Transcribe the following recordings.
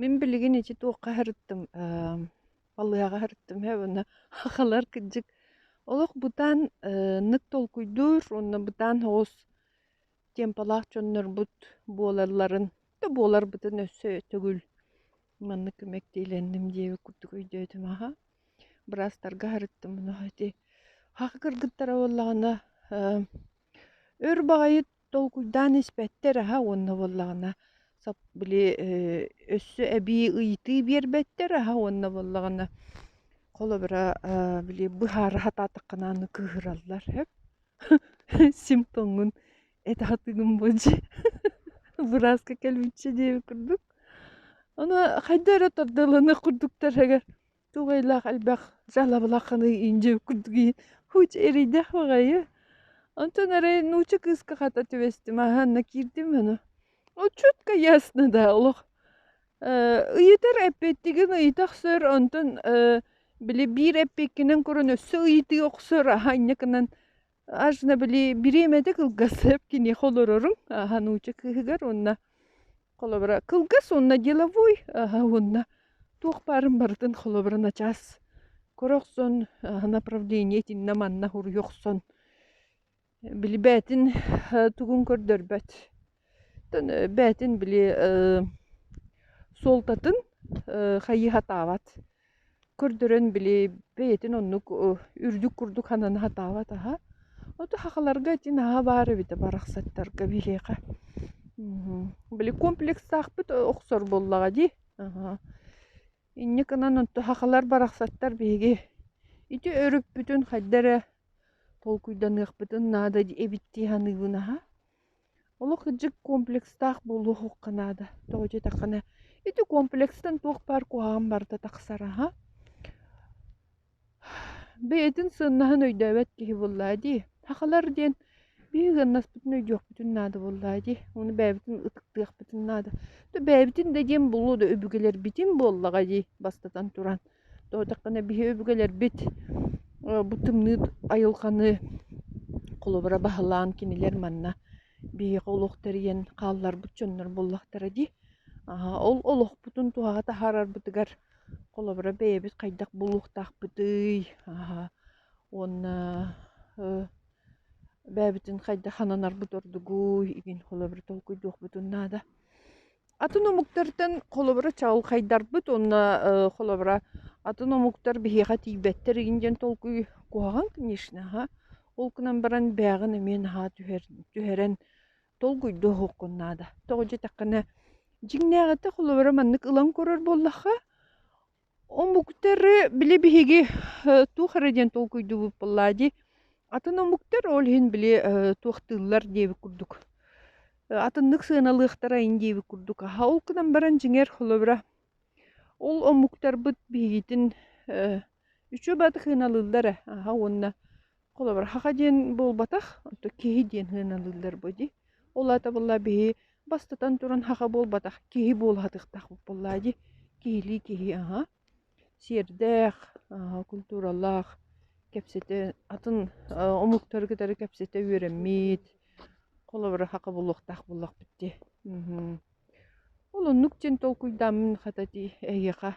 Мин билигин ити туохха сырыттым, эм, балыаҕа сырыттым ээ уонна хахалар кырдьык олох бутаан, э, нык толкуйдуур уонна бутаан соҕус темпалаах дьоннорбут буолалларын да буоларбытын өссө төгүл маннык мэктиэлэнним диэби курдук өйдөөтүм. Аха, быраастарга сырыттым. Ити хаха кыргыттара буоллаҕына, эм, өр баҕайы Толкуйдаан испэттэр аһа уонна буоллаҕына сап били э, өссө эбии ыйытыы биэрбэттэр аһа уонна буоллаҕына холобура э, били быһаара сатаатаххына аны кыыһыраллар эп сим тоҥҥун этэ сатыыгын болдьи бырааска кэлбиччэ диэбит курдук ону хайда эрэ тардылланыах курдуктар эгэр тугайлаах элбэх жалабылахханый инже кудги хуч эрийдэх баҕайы онтон арай нууча кыыска хата түбэстим аһаанна киирдим аны отчутка ясно да олох ыйытар эппиттигин ыйыта охсор онтон били биир эппиккинэн көрөн өссө ыйытыы охсор аһаанньакынан Ачна били бириэмэтэ кылгасып киниэхэ олорорум ааһа нуучча кыыһыгар уонна холобура кылгас уонна деловой ааһа уонна туох баарын барытын холобура начаас кыра охсон ааһа направление итиннэ манна хуруйу охсон билибээтин тугун көрдөрбөт бээтин били суолтатын хайыһатаабат көрдөрөн били бэйэтин оннук үрдүк курдук хананы сатаабат аһа оту хахаларга ити наһаа баар эбитэ барахсаттарга биһиэхэ били комплекстаахпыт охсор буоллаҕа дии инньэ гынан онто хахалар барахсаттар биһиги ити өрүппүтүн хайда эрэ толкуйданыахпытын наада эбит дии саныыбын аһа Олох кырдьык комплекстаах буолуохха наада. Тоҕо диэтэххинэ, ити комплекстан туох баар куһаҕан барыта тахсар аһа. Бэйэтин сыаннаһын өйдөөбөт киһи буоллаа дии. Сахалар диэн биһиги ыннаспытын өйдүөхпүтүн наада буоллаа дии. Ону бэйэбитин ытыктыахпытын наада. То бэйэбитин да диэн булуу да өбүгэлэрбитин буоллаҕа дии, бастатан туран. Тоһутаххына биһи өбүгэлэрбит бу тымныы айылҕаны холобура баһылаан кинилэр манна биһиэхэ олох тэрийэн хаалларбыт дьоннор буоллахтара дии. Ол олохпутун туһаҕа таһаарарбытыгар холобура бэйэбит хайдах буолуохтаахпытый уонна бэйэбитин хайдах хананарбыт ордугуй, игин холобура толкуйдуохпутун наада. Атын омуктартан холобура чаҕылхайдарбыт уонна э, холобура атын омуктар биһиэхэ тиийбэттэр игин диэн толкуй куһаҕан, конечно, аха. Ол гынан баран бэйэҕин эмиэ наһаа түһэр, түһэрэн толкуйдуоххун наада. Тоҕо диэтэххинэ, дьиҥнээҕитэ холобура маннык ылан көрөр буоллахха, Омуктары били биһиги туох эрэ диэн толкуйдуубут буоллаа дии. Атын омуктар ол иһин били туохтыыллар диэбит курдук. Атыннык сыаналыахтарайын диэбит курдук. Аһа ол гынан баран дьиҥэр холобура ол омуктарбыт биһигитин үчүгэй баҕатык сыаналыыллар ээ. Аһа уонна Холобур, хаха диэн буолбатах, онто киһи диэн сыаналыыллар бу дии. Ол аата буолла биһи бастатан туран хаха буолбатах, киһи буолатыктаахпыт буоллаа дии. Киһилии киһи, аһа. Сиэрдээх, аһа, культуралаах кэпсэтэ, атын омуктары кытары кэпсэтэ үөрэммит, холобура хаха буолуохтаах буоллахпыт дии. Ол оннук диэн толкуйдааммын хата дии эһиэхэ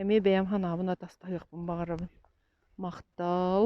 эмиэ бэйэм санаабын атастаһыахпын баҕарабын махтал